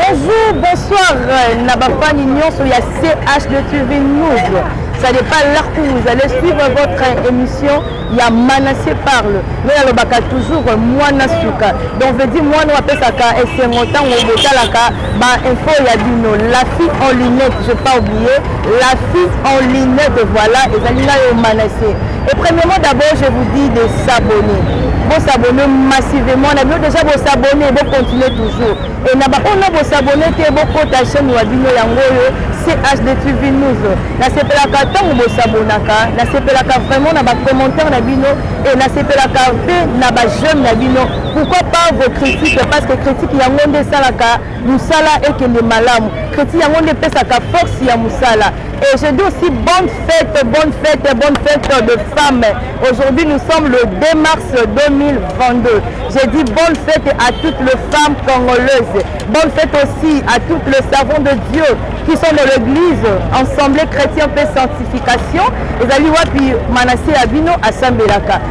Bonjour, bonsoir euh, na bafani nyonso ya CHD TV News. Ça n'est pas l'heure où vous allez suivre votre émission ya Manassé parle. Mais alobaka toujours euh, mwana suka. Donc veut dire mwana apesaka esengo tango botalaka Ba info ya bino la fille en lunette je pas oublié la fille en lunette voilà ezali na yo manasse et premièrement d'abord je vous dis de s'abonner bo s'abonner massivement na bino déjà bo s'abonner bo continuer toujours et na ba ona bo s'abonner te bo kota chaîne ya bino yango oyo CHD TV News nasepelaka ntango bosabonaka nasepelaka vraiment na bacommentaire na bino e nasepelaka mpe na bajeume na bino Pourquoi pas vos critiques parce que critique yango nde esalaka musala ekende malamu. Critique yango nde epesaka force ya musala. Et je dis aussi bonne fête, bonne fête, bonne fête de femmes. Aujourd'hui, nous sommes le 2 mars 2022. Je dis bonne fête à toutes les femmes congolaises. Bonne fête aussi à toutes les savants de Dieu qui sont dans l'église, ensemble chrétien, paix, sanctification. Et Zali Wapi, Manassé Abino, Assembelaka.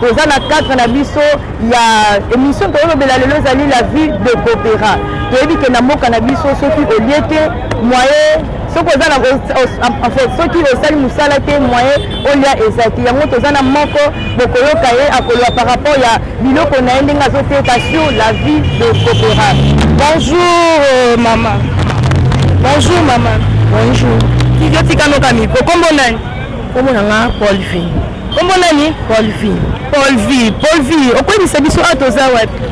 toza na cadre na biso ya émission tokolobela lelo ezali la vie de coopéra toyebi ke na mboka na biso soki olie te moyen soki oza na en fait soki osali mosala te moyen olia eza te yango toza na moko bokoyoka ye akoloba par rapport ya biloko na ye ndenge azoteka sur la vie de coopéra bonjour euh, mama bonjour mama bonjour tizotikanoka mikro kombo nani Kombo na nga Paul V. Kombo nani? Paul V. Paul V. Paul V. Okoyebisa biso awa toza wapi?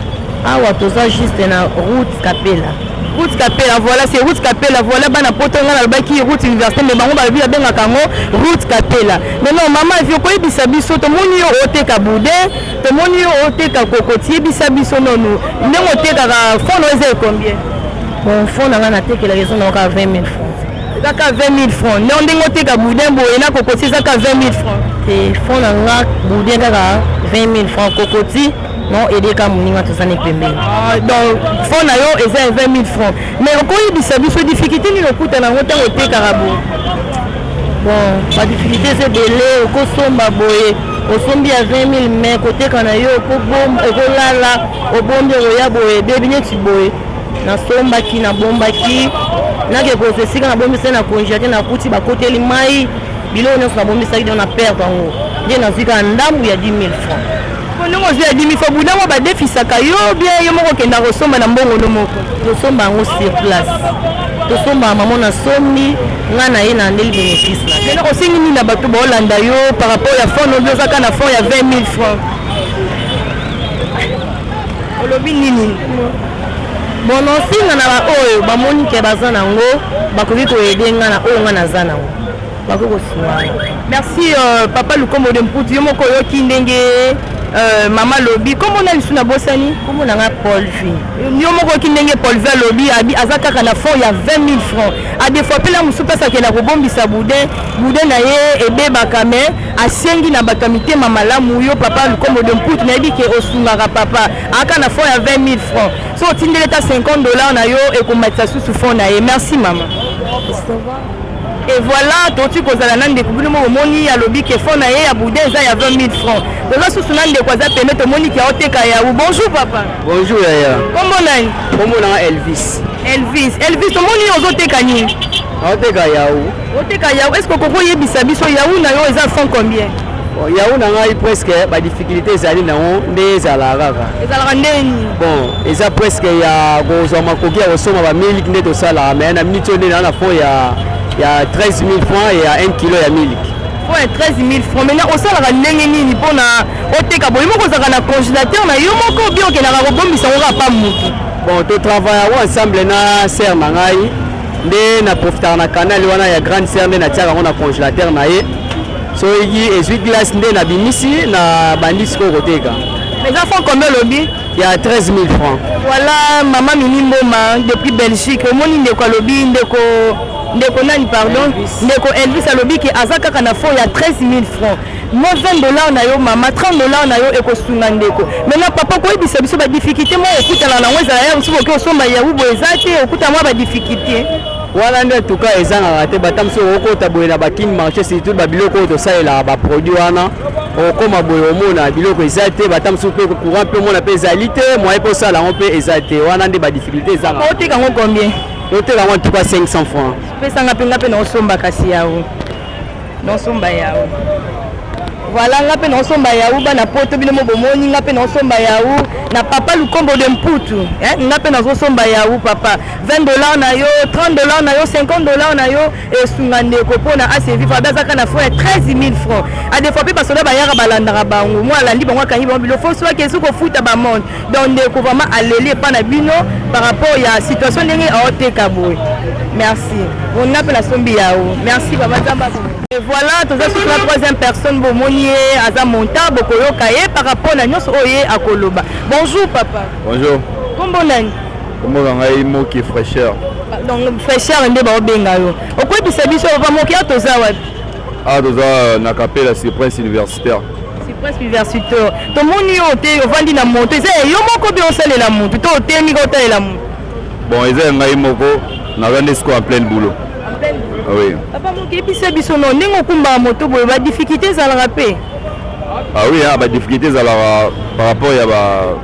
Awa toza juste na route Kapela. Route Kapela, voilà, c'est route Kapela, voilà, bana poto nga nalobaki route université mais bango balobi babengaka yango route Kapela. Mais non, mama vi okoyebisa biso tomoni yo oteka bude, tomoni yo oteka kokoti, yebisa biso nono ndenge otekaka fond oyo eza combien? Bon, fond na nga natekela ezo na yoka 20 000 francs. eza ka 20000 francs nao ndenge oteka boudin boye na kokoti eza ka 20000 francs te fond na nga boudin kaka 20000 francs kokoti non edeka moninga tozani pembeni ah, donc fond na yo eza ya 20000 francs mais okoyebisa biso difficulté nini okuta na yango ntango otekaka boye bon badifficulté eza ebele okosomba boye osombi ya 20000 mai koteka na yo okolala obombi okoya boye ebebi neti boye nasombaki nabombaki nake kozwa esika nabombisaki na congela te nakuti bakoteli mai biloko nyonso nabombisaki nde na perte yango nde nazwi kaka ndambu ya 10 000 francs ndenge ozwi ya 10 000 francs budango badefisaka yo bien yo moko okenda kosomba na mbongo no moko tosomba yango sur place tosomba mamo na sombi ngai na ye na ndeli bénéfice na lelo osengi nini na bato baolanda yo par rapport ya fond obi ozaka na fond ya 20 000 francs olobi nini bon nsinga na baoyo bamoni ke baza nango bakoki koyede nga na oyo nga naza nango bakoki kosunga merci euh, papa lukombo de mputu yo moko oyoki ndenge Euh, mama lobi nkombo na lisu nabosani nkombo na ngai polvi yo moko oki ndenge polvi alobi abi aza kaka na fond ya 20 000 francs adefoipela mosusu mpasi akenda kobombisa boudin boudin na ye ebebaka mais asengi na bato ya mitema malamu yo papa lukombo de mputu nayebi ke osungaka papa aka na fond ya 20 000 francs so otindeli ata 50 dollars na yo ekomatisa susu fond na ye merci mama et voilà toti kozala na ndeko bino moko omoni alobi ke fond na ye ya bouda eza ya 20 000 francs toza susu na ndeko aza peme tomoni ke aoteka yawu bonjour papa bonjour yaya kombo nani kombo nanga elvis elvis elvis omoni ozoteka nini aoteka yawu Oteka yawu, est-ce que okoki oyebisa biso yawu na yo eza 100 combien? Bon, yawu na ngai presque ba difficultés ezali na yango nde ezalaka kaka. Ezalaka ndenge nini? Bon, eza presque ya kozwa makoki ya kosomba ba miliki nde tosalaka mais na minute oyo nde naa na fond ya ya 13 000 francs ya 1 kilo ya miliki. Fond ya 13 000 francs. Maintenant osalaka ndenge nini mpo na oteka boye moko ozalaka na congélateur na yo moko obi okendaka kobombisa yango kaka pa moto? Bon, to travaillaka ensemble na sœur na ngai. nde na profitaka na canal wana ya grande sœur nde natiaka yango na congélateur na ye soki ezwi glace nde nabimisi na bandi sikoyo koteka eza franc combien olobi ya 13 000 francs voilà mama mimi mboma depuis belgique omoni ndeko alobi ndeko ndeko nani pardon ndeko elvis alobi ke aza kaka na fond ya 13 000 francs Moi 20 dollars na yo mama 30 dollars na yo ekosunga ndeko. Maintenant papa koyebisa biso ba difficulté moko okutana na yango ezala ya mosusu oke osomba ya ubo eza te okuta mwa ba difficulté. Wana nde tuka ezangaka te bata mosusu okokota boye na bakin marché surtout babiloko oyo tosalelaka baproduit wana okokoma boye omona biloko eza te bata mosusu mpe courant mpe omona mpe ezali te moye mpe osala yango mpe eza te wana nde badifficulté ezangaka. Oteka yango combien? Oteka yango en tout cas 500 francs. Pesanga mpe nga mpe na osomba kasi yago. Nosomba yawu. Voilà nga pe nosomba yawu bana poto bino mo bomoni nga pe nosomba yawu na papa lukombo de mputu eh? nga pe nazosomba yawu papa 20 dollars na yo 30 dollars na yo 50 dollars na yo esunga ndeko mpo na asevivre abe azaka na fond ya 13 000 francs adefois mpe basoda bayaka balandaka bango mwa alandi bango akangi bango bilo fo soki esuki kofuta bamonde donc ndeko vraiment aleli epa na bino par rapport ya situation ndenge aoteka boye merci ona mpe nasombi yao merci baba nzambe Et voilà toza susu na troisième personne bomoni ye aza monta bokoyoka ye par rapport na nyonso oyo ye akoloba bonjour papa bonjour kombo nani kombo na ngai moki fraîcheur donc fraîcheur nde baobenga yo okoyebisa biso papa moki awa toza wapi awa toza na kapela sur prince université Cypress Piversitor. Tomoni yo te ovandi na moto eza ya yo moko mpe osalela moto to otemi ka otalela moto. Bon eza ya ngai moko naza nde sikoyo en pleine boulot. Ah oui. Papa mokebisa biso no ndenge okumbaka moto boye ba difficulté ezalaka mpe. Ah oui, hein, ba difficulté ezalaka par rapport ya ba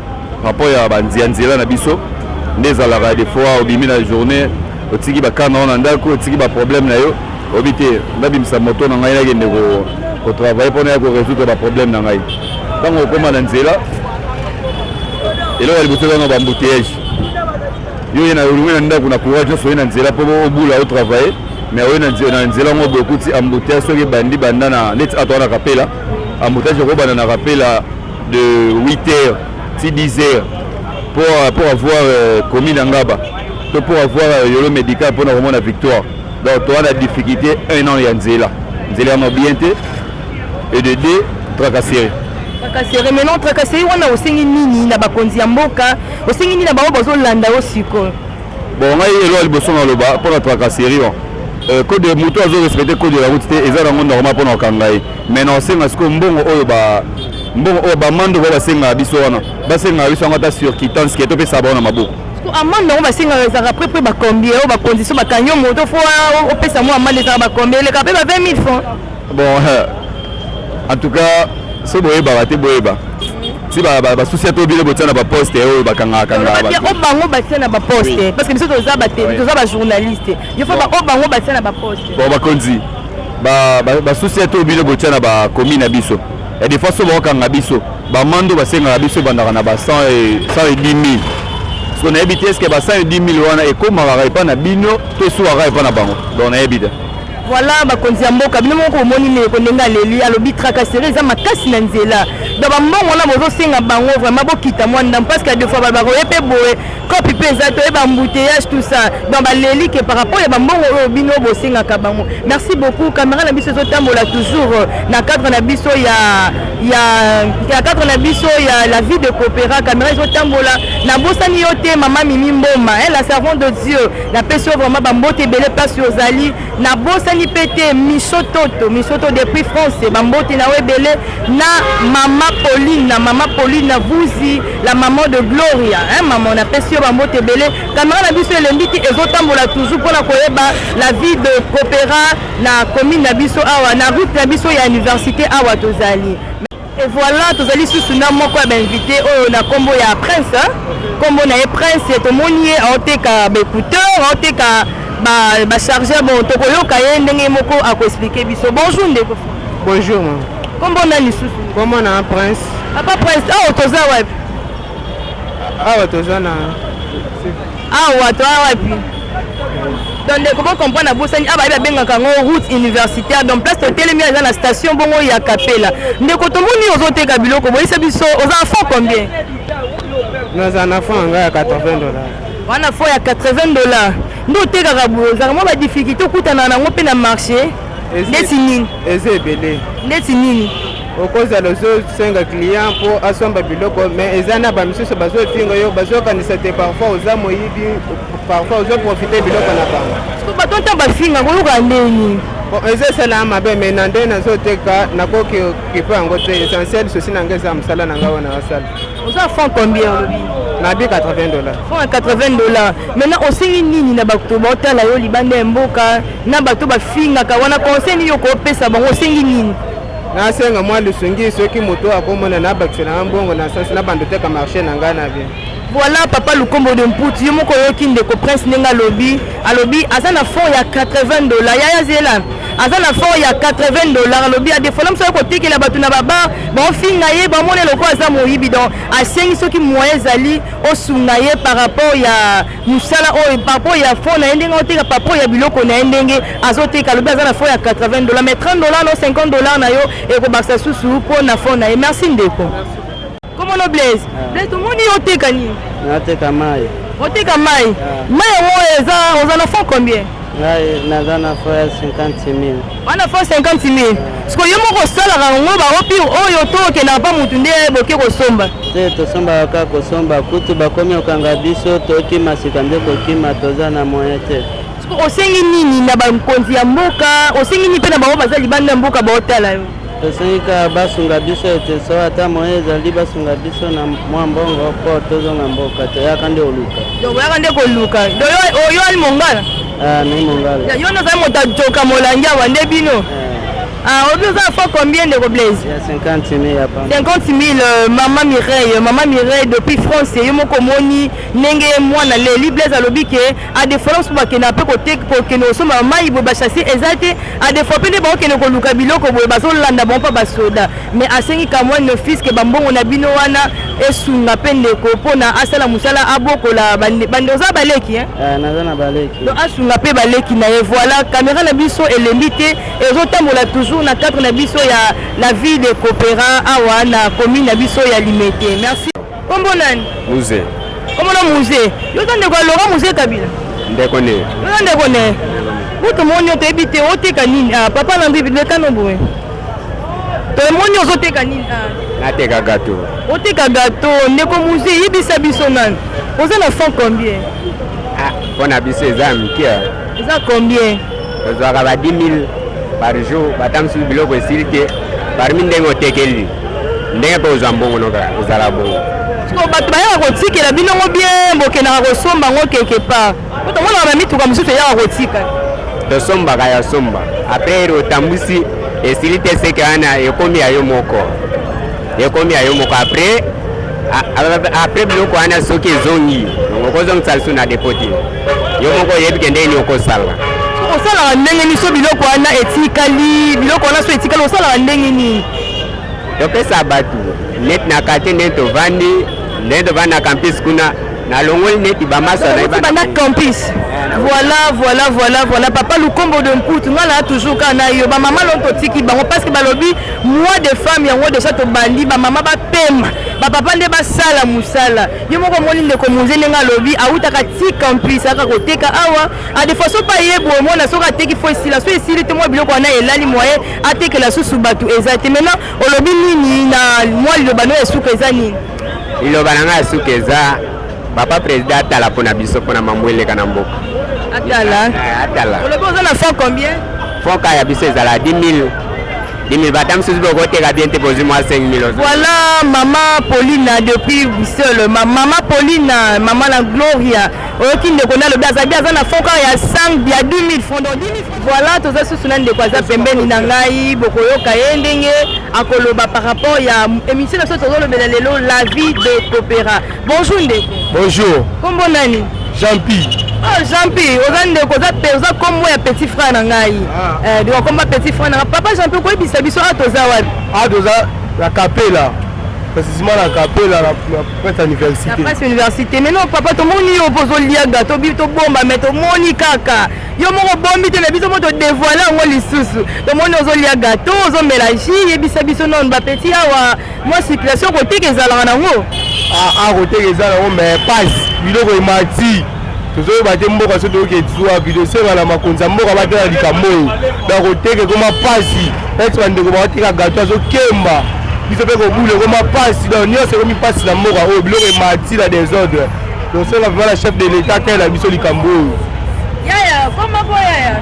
par rapport ya ba nzia nzela na biso nde ezalaka des fois obimi na journée otiki ba kana na ndako otiki ba problème na yo oyebi te nabimisa moto na ngai nakende kotravaille mpo naya koresoudre baproblème na ngai ntango okóma na nzela eloko ya liboso ezanga bambouteyage yo oye na olungi na ndako na courage nyonso oye na nzela mpo obula otravaille mais oye na nzela yango bokuti ambouteyage soki ebandi banda na neti ato wana kapela ambouteyage ekobanda na kapela de 8 heures ti 10 heures pour, pour avoir euh, commis na ngaba to pour avoir euh, yolo médical mpo na komona victoire Donc toa na difficulté un an ya nzela nzela yango bien te et de deux tracasserie tracasserie maintenant tracasserie wana osengi nini na bakonzi ya mboka osengi nini na bango bazolanda yo sikoyo bon ngai elo ya liboso naloba mpo na tracasserie wana euh, code de moto azo respecte code de la route te eza nango normal mpo na kokanga ye mais na osenga sikoyo mbongo oyo ba mbongo oyo bamando bao basengaka biso wana basengaka biso yango ata sur kitance ke topesa bango na maboko Siko amande yango basengaka ezalaka près près bakombi yango ba condition bakangi yo moto fo opesa mwa amande ezalaka bakombi eleka mpe ba 20 000 francs bon en tout cas so boyebaka te boyeba si basusi ya tobile botia na baposte oyo bakangakangaoyo bango batia na baposte parce que biso toza bajournaliste il faut baoyo bango batia na baposte bon bakonzi basusi ya tobile botia na bakomi na biso ya defa so bakokanga biso bamando basengaka biso ebandaka na ba 110000 so nayebi te eske ba 110000 wana ekomaka epai na bino to esuwaka epai na bango donc nayebi te voilà bakonzi ya mboka bino moko omoni ndeko ndenge aleli alobi tracasserie eza makasi na nzela donc bambongo wana bozosenga bango vraiment bokita mwa ndambo parce que ya defois bakoye mpe boye kopi mpe eza toye bambouteillage tout ça donc baleli ke par rapport ya bambongo oyo bino bosengaka bango merci beaucoup caméra na biso ezotambola toujours euh, na cadre na biso ya ya na cadre na biso ya la vie de coopéra caméra ezotambola nabosani yo te mama mimi mboma la servante de dieu napesi yo vraiment bambote ebele mpasi ozali Nabosani pe te Miso Toto, Miso Toto depuis France, ba mbote na yo ebele na mama Pauline, na mama Pauline na Vuzi, la maman de Gloria, hein maman, napesi yo ba mbote ebele. Camera na biso elembi te, ezotambola toujours pona koyeba la vie de Copera na commune na biso awa, na route na biso ya universite awa tozali. Et voilà, tozali susu na moko ya bainvite oyo na kombo ya Prince. Kombo na ye Prince, tomoni ye aoteka ba écouteur, aoteka ba ba chargeur bon tokoyoka ye ndenge moko akoexplike biso. Bonjour ndeko. Bonjour. Kombo nani susu? Kombo na Prince. Papa Prince, awa toza wapi? awa toza na awa toa wapi donc ndeko bo comprendre abosani awa bayebi abengaka yango route universitaire donc place totelemi eza na station bongo ya kapela ndeko tomoni ozoteka biloko boyisa biso oza na fond combien naza na fond yanga ya 80 dollars wana fond ya 80 dollars nde otekaka boye ozalaka mwa badifficulté okutana nango mpe na marché ndeti nini eza ebele ndeti nini okozala ozosenga client mpo asomba biloko me eza na bamisusu bazofinga yo bazokanisa te parfois oza moyibi parfois ozoprofite biloko na bango bato nta bafinga koyoka ndeni eza esalaa mabe me na nde nazoteka nakoki kipo yango te essentiel sosi na ngai eza mosala na ngai wana nasala oza franc combien olobi nabi 80 dollar franc 80 dollar maintenant osengi nini na bato baotala yo libanda ya mboka na bato bafingaka wana conseil nini okopesa bango osengi nini nasenga mwa lisungi soki moto oyo akomona na bakisa na mbongo na sasi na bando teka marché na ngai na bien voilà papa lukombo de mputi yo moko oyoki ndeko prince ndenge alobi alobi aza na fort ya 80 dollars yaya zela aza na fort ya 80 dollars alobi adefola mosu ayoki kotekela bato na babar baofinga ye bamona eloko aza moyibi donc asengi soki moyen ezali osunga ye par rapport ya musala oyo papo ya fo na ye ndenge oteka papo ya biloko na ye ndenge azoteka alobi aza na fo ya 80 dollars mais 30 dollars no 50 dollars na yo ekobakisa susu mpo na fo na ye merci ndeko komono blaise ah. blaise tomoni yo oteka nini nateka mai oteka mai ah. mai yango eza oza na fond combien ngai naza na fo ya 50 000 wana fo 50 mil siko yo moko osalaka yango baopi oyo to okendaka mpa motu nde boke kosomba te tosombaka kaka kosomba kutu bakomi okanga biso tokima sika nde kokima toza na moyen te osengi nini na bakonzi ya mboka osengi nini mpe na bango baza libanda ya mboka baotala yo tosengi kaka basunga biso ete so ata moye ezali basunga biso na mwa mbongo mpo tozonga mboka toyaka nde koluka oyaka nde koluka oyo ali mongala Ah, mais mon gars. Ya yono za mota joka molangi awa nde bino. Eh. Ah, obi oza fo combien de Blaise? Ya 50 000 ya pamba. 50 000 euh, maman Mireille, maman Mireille depuis France yo moko moni ndenge mwana Leli Blaise alobi ke a de France ba kena pe ko tek ko kena oso maman ibo ba chasser ezate a de fois pe ne ba kena ko luka biloko boye ba zo landa bon pa ba soda. mais asengi quand même d'office que bambongo na bino wana esunga mpe ndeko mpona asala mosala abokola bande oza baleki eh? eh, naza na baleki donc asunga mpe baleki na ye voilà kamera na biso elembi te ezotambola toujours na cadre na biso ya la vie de coopera awa na commune na biso ya limete merci Kombo nani? Muze. Kombo na Muze. Yo za ndeko ya Laurent Muze Kabila. Ndeko ne. Yo za ndeko ne. Buto moni yo toyebi te oteka nini? Ah papa na mbibi leka no boye. Tomoni ozoteka nini? Ah. Nateka gato. Oteka gato ndeko Muze yebisa biso nani? Oza na 100 combien? Ah, pona biso eza mike. Eza combien? Tozwaka ba 10000 par jour, batambisi biloko esili te, parmi ndenge otekeli ndenge mpe ozwa mbongo no kaka ezala bongo. Siko bato bayaka kotikela bino ngo bien, bokendaka kosomba ngo quelque part, mpo tomonaka bamituka mosusu eyaka kotika. Tosombaka ya somba apres otambwisi esili te, seke wana ekomi ya yo moko, ekomi ya yo moko apres apres biloko wana soki ezongi okozongisa lisusu na depoti. yo moko oyebi ke ndenge nini okosala osalaka ndenge nini so biloko wana etikali biloko wana so etikali osalaka ndenge nini topesa bato neti na karte nde tovandi nde tovandi na campus kuna nalongoli neti bamasa bana campus eh, voilà voilà voilà voilà papa lukombo de mputu nga naa toujours kaka na yo bamama loo totiki bango parce que balobi mois de femme yango deja tobandi bamama bapema bapapa nde basala mosala yo moko omoni ndeko munze ndenge alobi awutaka ti campus aka koteka awa a de façon pa ye boye omona soki ateki fo esila so esili te mwa biloko wana elali moye atekela susu bato eza te maintenant olobi nini na mwa liloba no ya suka eza nini liloba na ngai ya suka eza papa président atala mpo na biso mpo na mambo eleka na mboka atala eh, atala olobi oza na fond combien fond ka ya biso ezala 10 000 Dimi bata misusu bokoteka bien te bozwi mwa 5000 ozo. Voilà maman Paulina depuis Bruxelles. Ma maman Paulina, maman la Gloria. Oyoki ndeko na lobi azabi aza na fond kaka ya 5 ya 10000 francs donc 10000 francs. Voilà toza susu na ndeko aza pembeni na ngai bokoyoka ye ndenge akoloba par rapport ya émission na biso tozolobela lelo la vie de Popera. Bonjour ndeko. Bonjour. Kombo nani? Jean Pi. Oh Jean Pi, oza ndeko oza pe oza kombo ya petit frère na ngai. Ah. Eh donc kombo petit frère na papa Jean Pi ko yebisa biso a toza wapi? A toza la Capella. Précisément la Capella la presse université. La presse université. Mais non papa to moni yo pozo lia gato bi to bomba mais to moni kaka. Yo moko bombi te na biso moto dévoiler ngo lisusu. To moni ozo lia gato, ozo mela jus, yebisa biso non ba petit awa. mwa circulation koteka ezalaka nango a ah, ah, koteka eza nango mais pasi biloko emati tozoyeba te mboka so toyoki ezuwa bidosenga na makonzi ya mboka batala likambo oyo na koteka ekoma pasi neti bandeko bakoteka gato azokemba biso mpe kobula ekoma pasi donc nyonso ekomi pasi na mboka oyo biloko emati na desordre tosenga vraimen na chef de l'etat tele na biso likambo oyo yaya koma po yaya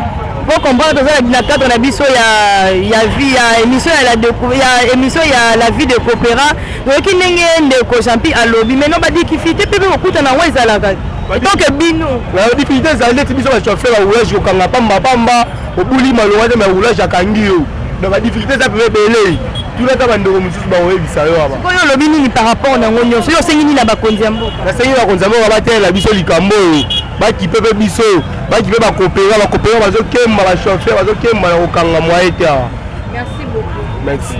Pour comprendre toza na cadre na biso ya ya vie ya émission ya la de, ya émission ya la vie de coopéra toyoki ndenge ndeko Jean-Pi alobi mais non ba difficulté pe kokuta na ngo ezalaka donc bino na difficulté ezali neti biso bato afela roulage kokanga pamba pamba obuli malonga te mais roulage akangi yo donc ba difficulté eza pe ebele tunaka bandeko mosusu bakoyebisa yo aba oyo olobi nini par rapport na yango nyonso yo osengi nini na bakonzi ya mboka nasengi bakonzi ya mboka batelela biso likambo oyo bakipe mpe biso baki mpe bakopera bakopera bazokemba bachauffeur bazokemba na kokanga mwaye te awa merci beaucoup merci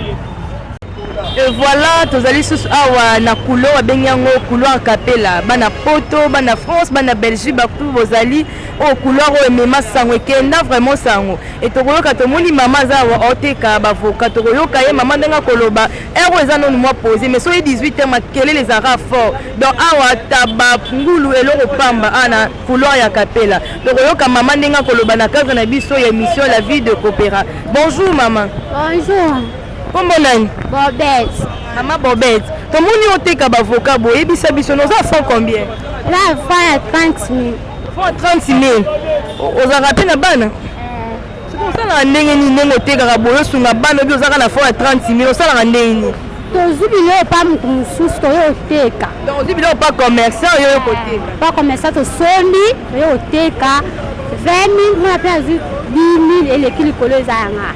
et voilà tozali susu awa na kulo babengi yango couloir capela bana poto bana france bana belgique bato bozali oyo oh, couloir oyo emema sango ekenda vraiment sango e tokoyoka tomoni mama aza awa oteka bavoka tokoyoka ye mama ndenge akoloba ere oyo eza nonu mwa pose mais soki 18 heure makelele ezalaka fort donc awa taba ngulu eloko pamba ana couloir ya kapela tokoyoka mama ndenge akoloba na cadre na biso ya émission la vie de coopéra bonjour mama bonjour kombo nani bobet mama bobet tomoni oteka bavoka boyebisa biso noza fond combien na fond ya 30 000 fond ya 30 000 ozalaka mpe na bana Siko osalaka ndenge nini ndenge otekaka boye osunga bana obi ozalaka na fond ya 30 mil osalaka ndenge nini tozwi biloko mpa moto mosusu toye oteka donc ozwi biloko mpa commerçant oye oye koteka mpa commerçant tosombi oye oteka 20 mil mwana mpe azwi 10 mil eleki likolo eza yanga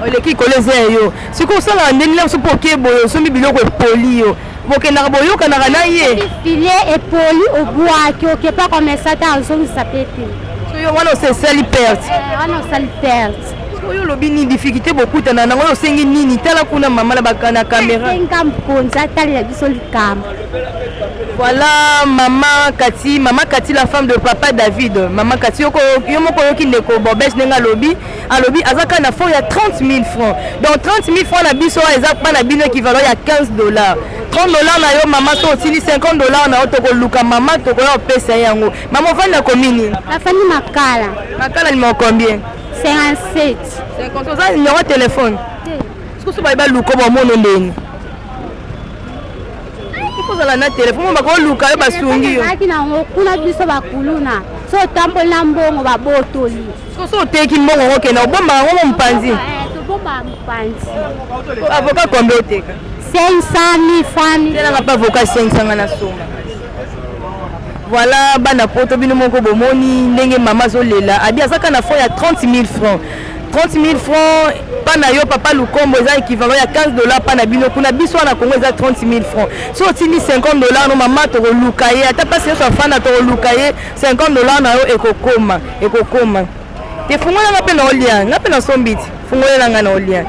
oleki likolo eza ya yo sikoyo osalaka ndenge nini biso mpo okeye boye osombi biloko epoli yo bokendaka boyokanaka na ye filie epoli obwaki oke pa komesa te azongisa pe te soyo wana osesali perte eh, wana osali perte oyo olobi nini difficulté bokutana nango oyo osengi nini tala kuna mama na bakana kamera senga mokonzi atalela biso likambo voilà mama kati mama kati la femme de papa david mama kati yo moko oyoki ndeko bobes ndenge alobi alobi aza kaka na fond ya 30 000 francs donc 30 000 francs na biso wana eza bana bino équivalent ya 15 dollars 30 dollars na yo mama so osili 50 dollars na yo tokoluka mama tokoya kopesa ye yango mama ofandi na komini nafandi makala makala nimero combien 57 50 oza nimero ya telefone sikoso baye baluka bamono ndeni kozala na telefone bakoluka yo basungi yo kuna biso bakuluna so otamboli na mbongo babotoli soso oteki mbongo ngo kenda obomba yango mo mopanzi tobomba mopanzi avocat kombe oteka 500 francs telanga mpe avocat 500 nga na songa voilà bana poto bino moko bomoni ndenge mama azolela abi azaka na fond ya 30 000 francs 30 000 francs pa na yo papa lukombo eza équivalent ya 15 dollar pa na bino kuna biso wana kongo eza 30 000 francs so otindi 50 dollar no mama tokoluka ye ata mpasi nyonso afanda tokoluka ye 50 dollar na yo ekokoma ekokoma te fungola nga mpe na olia nga mpe nasombi ti fungolela nga na olia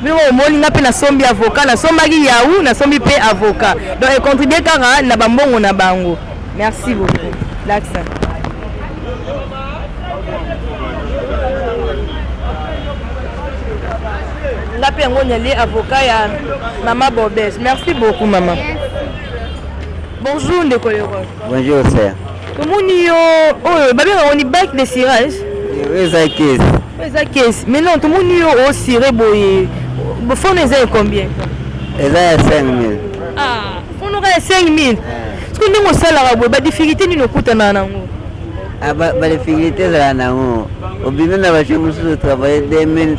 bino omoni nga mpe nasombi avocat nasombaki yahoo nasombi mpe avocat donc econtribue kaka na bambongo na bango merci beaucoup laksa nga mpe yango nali avocat ya mama bobes merci beaucoup mama bonjour ndeko leroy bonjour sœur tomoni yo oyo babengaka oni bike de cirage eza kesi eza kesi mais non tomoni yo osire boye fone eza ya combien eza ya 5000 ah fone oka ya 5000 soki ndenge osalaka boye badifficulté nini okutanaka nango ah, badifficulté ezalaka nango obimi na bato mosusu travaille 2000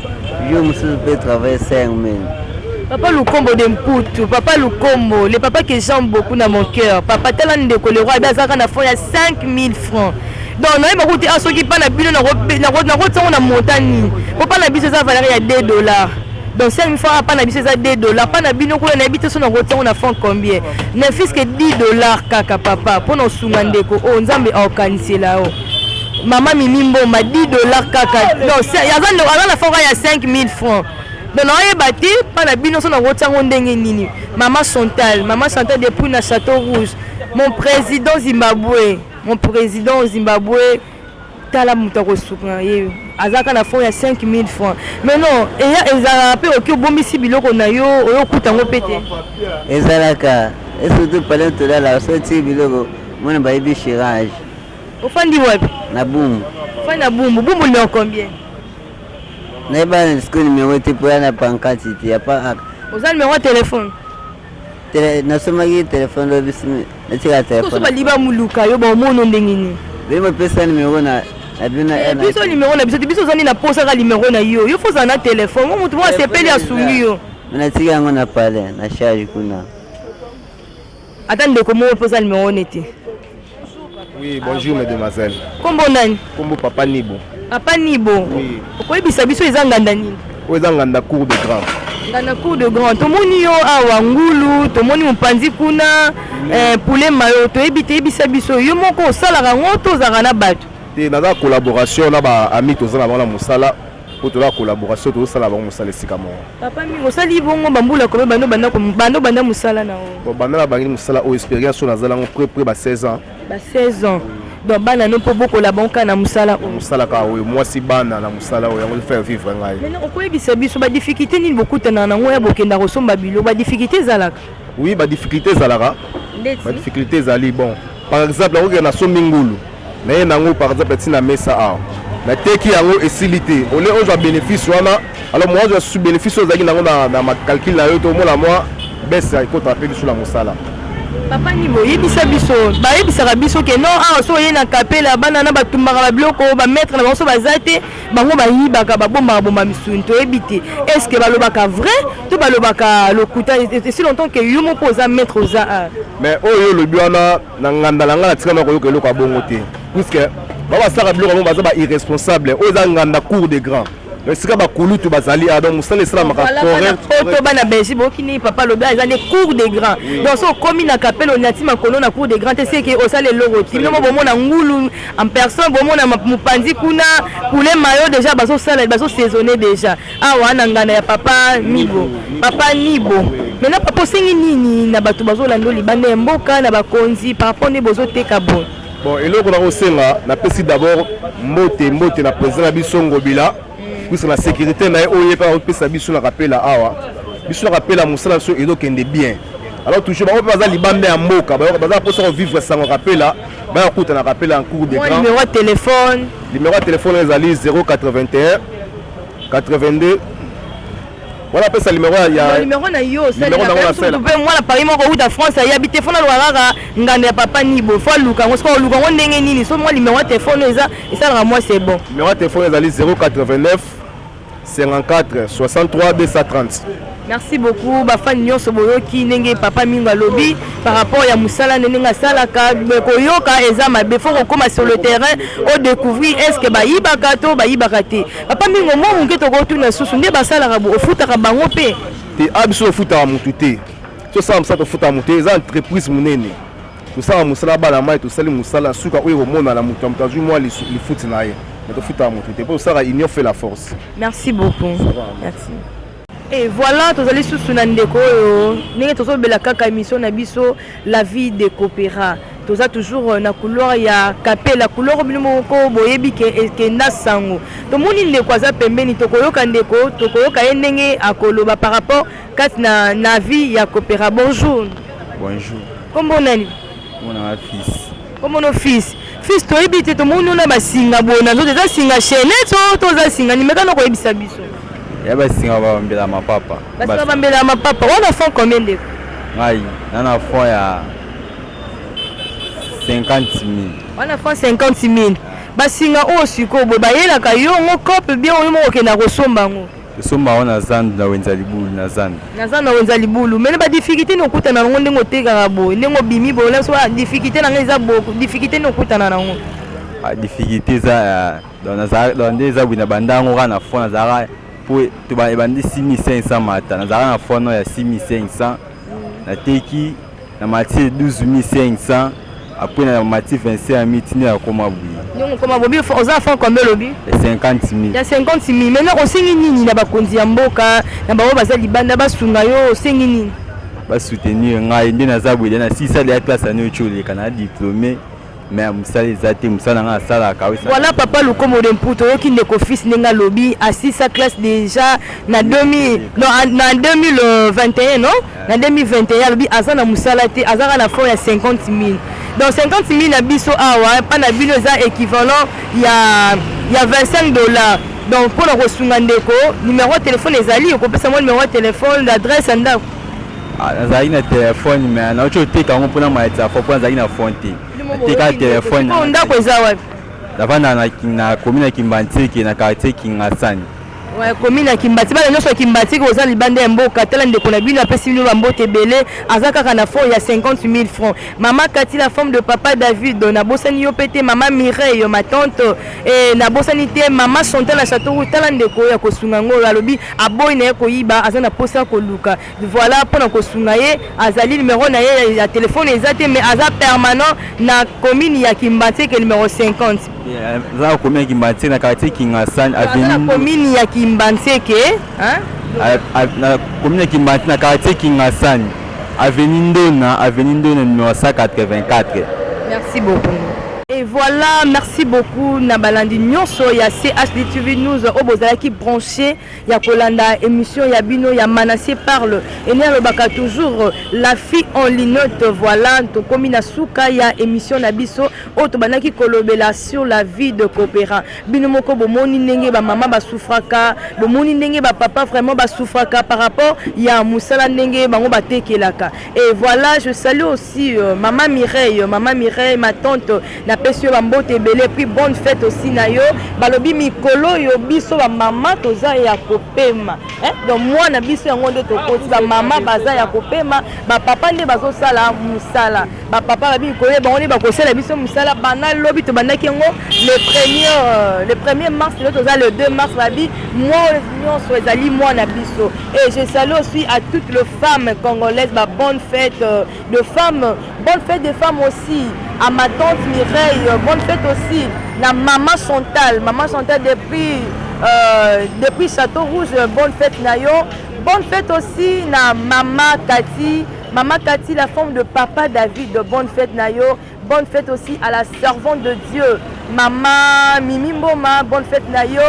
Yo mususu pe travailler 5000. Papa Lukombo de Mputu, Papa Lukombo, le papa que j'aime beaucoup dans mon cœur. Papa tala ndeko le roi azaka na fond ya 5000 francs. Donc naye bakuti ah soki pa na bino na ko na ko tsongo na montant nini. Po pa na biso eza valeur ya 2 dollars. Donc 5000 francs pa na biso eza 2 dollars. Pa na bino ko na bito so na ko tsongo na fond combien? Ne fils que 10 dollars kaka papa. Po na sunga ndeko o oh, Nzambe a okanisela o. Oh. Mama Mimi Mboma 10 dollars kaka. Non, aza ndo aza na fora ya 5000 francs. Donc na yeba te pa na bino so na ko tiango ndenge nini. Mama Chantal, Mama Chantal depuis na Château Rouge. Mon président Zimbabwe, mon président Zimbabwe tala moto akosuka na ye azalaka na fond ya 5000 francs mais non eya ezalaka mpe oki obombisi biloko na yo oyo okuta yango mpe te ezalaka esurtout pale tolala osoti biloko mwana bayebi chirage Ofandi wapi? Na Bumbu. Ofandi na Bumbu. Bumbu numéro combien? Nayeba sikoyo numéro te mpo ya na pancarte te ya pa Oza numéro ya telefone? Tele, nasomaki telefone lobi natika telefone. Soso baliba muluka yo baomono ndenge nini? Bino bapesa numéro na Eh, biso numéro na biso te biso ozali na posaka numéro na yo yo fozala na telefone motu moko asepeli asungi yo natika yango na palais na charge kuna Ata ndeko moko mpe oza numero one te. Oui, bonjour ah, mesdemoiselles. Kombo nani? Kombo Papa Nibo. Papa Nibo. Oui. Okoyebisa biso eza nganda nini? Oyo eza nganda cour de grand. Nganda cour de grand. Tomoni yo awa ngulu, tomoni mopanzi kuna, mm. eh, poulet mayo, toyebi te yebisa biso yo moko osalaka ngo to ozalaka na bato? Te naza collaboration na ba amis tozala na bango na mosala po tola collaboration tozosala bango mosala esika moko papa mingi osali bongo bambula kobe bando banda bando banda mosala na o banda na bangi mosala oyo expérience oyo nazala yango près près ba 16 ans ba 16 ans donc bana no mpo bokola bango kaka na mosala oyo mosala kaka oyo mwasi bana na mosala oyo yango faire vivre ngai maintenant okoyebisa biso badifficulté nini bokutanaka na yango ya bokenda kosomba bilo badifficulté ezalaka oui badifficulté ezalaka badifficulté ezali bon Par exemple, nakokende na sombi ngulu naye nango par exemple ti na mesa awa nateki yango esili te ole ozwa bénéfice wana alors mwa ozwa su bénéfice oyo ozalaki nango na macalcule na yo to omona mwa bese ekotaka mpe lisu na mosala papa nimo yebisa biso bayebisaka biso ke non awa so oye na kapela bana na batumbaka babiloko bamaître na bango so baza te bango bayibaka babombaka bomba misuni toyebi te est ce que balobaka vrai to balobaka lokuta esi longtemps ke yo moko oza maître oza a mais oyo olobi wana na nganda na ngai natika na koyoka eloko ya bongo te puiske bango basalaka biloko yango baza ba irresponsable oyo eza nganda cour de grand esika bakulutu bazali a ah, donc mosala esalamaka poto bana belgi bokini papa lobi eza nde cour de grand donc so okomi na kapele onyati makolo na cour de grand te seke osala eloko ti bino mo bomona ngulu en personne bomona mopanzi kuna poulet mayo déjà bazosala bazosaisonne déjà awa na ngana ya papa nibo papa nibo maintenant papa osengi nini na bato bazolanda libanda ya mboka na bakonzi par rapport nde bozoteka boye bon eloko nakosenga napesi d'abord mbote mbote na président na biso ngobila puisque na sécurité na ye oyo ye mpe akopesa biso na kapela awa biso na kapela mosala biso ezokende bien alors toujours bango mpe baza libanda ya mboka baza mposa kovivre sango kapela baya kuta na kapela en cours de grand numéro ya telefone numéro ya telefone ezali 081 82 Voilà, pesa numéro ya ya numéro na yo, c'est le numéro na sala. Tu peux moi la Paris moko ou ta France, ya bité fona lo rara nganda ya papa nibo. Faut luka, on se ko luka on ndenge nini? So moi numéro de téléphone eza, et ça moi c'est bon. Numéro de téléphone ezali 089 54 63 230. merci beaucoup bafani nyonso boyoki ndenge papa mingo alobi par rapport ya mosala nde ndenge asalaka koyoka eza mabe fo kokóma sur le terrain odecouvrir est ce que bayibaka to bayibaka te Papa Mingo, mwa moke tokotuna susu nde basalaka bo ofutaka bango mpe te a ah, biso tofutaka motu te tosala mosala tofutaka motu te eza entreprise monene tosala mosala bana mai tosali mosala suka oyo ekomonana moto ya moto azwi mwa lifuti na ye me tofutaka motu te mpo tosalaka union fait la force merci beaucoup merci Et voilà, tozali susu na ndeko oyo ndenge tozobela kaka emission na biso la vie de coopera toza toujours euh, na couloir ya kapela couloir bino moko boyebi ke ekenda sango tomoni ndeko aza pembeni tokoyoka ndeko tokoyoka ye ndenge akoloba par rapport kati na, na vie ya coopera bonjour bonjour kombo nani Mwana wa fils. Komono fils. Fils toyebi te tomoni ona basinga boye na nzoto eza singa chaînette o to oza singa nini mekana koyebisa biso. Ya basinga babambela mapapa. Basinga babambela mapapa. Wana fond combien ndeko? Ngai na na fond ya 50 000. Wana fond 50 000. Basinga oyo sikoyo boye bayelaka yo ngo cope bien oyo moko okenda kosomba yango. Tosomba yango na zandu na wenza libulu na zandu. Na zandu na wenza libulu. Mene ba difficulté ni okutana nango ndenge otekaka boye ndenge obimi boye na biso ba difficulté na ngai eza boko difficulté ni okutana nango. Ba difficulté eza ya donc nazalaka donc nde eza boye na bandango kaka na fond nazalaka po to ba ebandi 6500 mata nazalaka na fond ya 6500 nateki Na mati 12500 après na mati 25000 tina ya koma buyi. Nyongo koma bobi oza franc combien lobi? Ya 50000. Ya 50000. Maintenant osengi nini na bakonzi ya mboka na baoyo baza libanda basunga yo osengi nini? Ba soutenir ngai nde naza boye na sisa de ya classe année oyo oleka na diplome. mais mosala eza te mosala nanga asalaka voilà papa lukomo de mputu oyoki ndeko fils ndenge alobi asisa classe déjà na 2000 non na 2021 non na 2021 alobi aza na mosala te azaka na fond ya 50 000 donc 50 000 na biso awa mpa na bino eza équivalent ya ya 25 dollars donc mpo na kosunga ndeko numero ya telefone ezali okopesa mwa numero ya telefone adresse ya ndako Ah, nazalaki na telefone me nauti oteka yango mpona maletisa fo mpo nazalaki na fon te nateka telefone oh, ndako eza wapi navanda na komi na kimbantieke na quartier kingasani komi na kimbati bana nyonso ya kimbati koza libanda ya mboka tala ndeko na bino apesi bino bambote ebele aza kaka na fond ya 50 000 francs mama kati la forme de papa david nabosani yo mpe te mama mireille ma tante e, nabosani te mama chantal na chateau tala ndeko ya kosunga yango oyo alobi aboyi na ye koyiba aza na mposa ya koluka Voilà pona kosunga ye azali numero na ye ya telefone eza te mais aza permanent na commune ya kimbanseke numero 50 aza na commune ya kimbanseke na quartier kingasani avenue na commune ya kimbanseke na commune ya kimbanseke na quartier kingasani avenue ndona avenue ndona numero 184 merci beaucoup Et voilà, merci beaucoup Nabalandi Nyonso, il y a CHDTV News, au Bozalaki branché. ya kolanda emission ya bino ya Manassé parle ene alobaka toujours la fille en linotte voilà tokomi na suka ya emission na biso oyo tobandaki kolobela sur la vie de coopérant bino moko bomoni ndenge bamama basufraka bomoni ndenge bapapa vraiment basufraka par rapport ya mosala ndenge bango batekelaka et voilà je salue aussi euh, mama Mireille mama Mireille ma tante Na pesi yo ba mbote ebele puis bonne fete aussi na yo. Balobi mikolo oyo biso ba mama toza ya kopema. Hein? Donc mwana biso yango nde tokoti ba mama baza ya kopema, ba papa nde bazo sala musala. Ba papa ba mikolo oyo bango nde bakosala biso musala bana lobi to bandaki yango le premier euh, le premier mars le toza le 2 mars babi moi nyonso ezali mwana biso. Et je salue aussi à toutes les femmes congolaises ba bonne fête euh, de femme bonne fête de femme aussi à ma tante Mireille bonne fête aussi na maman Chantal maman Chantal depuis euh, depuis Château Rouge bonne fête na yo bonne fête aussi na maman Cathy maman Cathy la femme de papa David bonne fête na yo Bonne fête aussi à la servante de Dieu, maman Mimi Mboma, bonne fête na yo.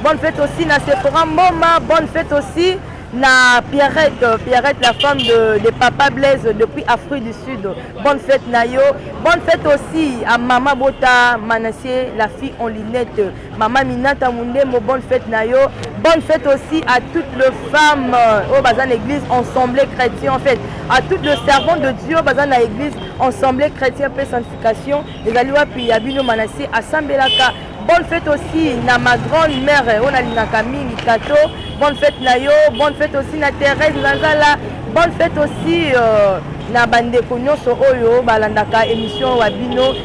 Bonne fête aussi na Sephora Mboma, bonne fête aussi na Pierrette, Pierrette la femme de, de Papa Blaise depuis Afrique du Sud. Bonne fête na yo. Bonne fête aussi à Mama Bota Manassé, la fille en lunettes. Maman Minata Mundembo, bonne fête na yo. Bonne fête aussi à toutes les femmes euh, au Bazan Église Ensemblée Chrétien en fait. À toutes les servantes de Dieu Bazan na Église Ensemblée Chrétien paix sanctification. Ezali wapi ya bino manasi asambelaka. Bonne fête aussi na ma grande mère euh, on a linaka mingi kato. Bonne fête na yo, bonne fête aussi na Thérèse Nazala. Bonne fête aussi euh, na bandeko nyonso oyo balandaka émission wa bino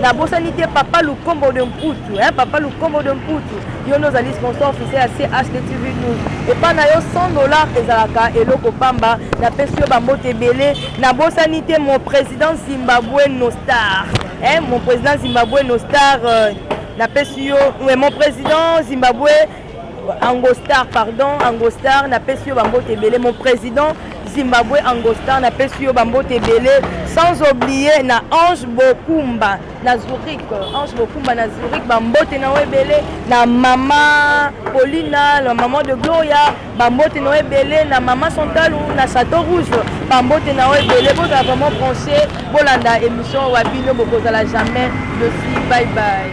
nabosani te papa lukombo de mputu eh, papa lukombo de mputu yo nde ozali sponsor officiel ya CHTV news epai na yo 100 dollar ezalaka eloko pamba napesi yo bambote ebele nabosani te mon président zimbabwe nostar eh, mon président zimbabwe nostar euh, napesi yo eh, mon président zimbabwe Angostar, pardon, Angostar, na pesi yo bambote ebele. Mon président Zimbabwe Angostar, na pesi yo bambote ebele. Sans oublier na Ange Bokumba na Zurich, Ange Bokumba na Zurich, bambote na yo ebele. Na mama Paulina, la maman de Gloria, bambote na yo ebele. Na mama Santalu, na Château Rouge, bambote na yo ebele. Bozala vraiment branché, bolanda émission Wabino, bokozala jamais. Merci, bye bye.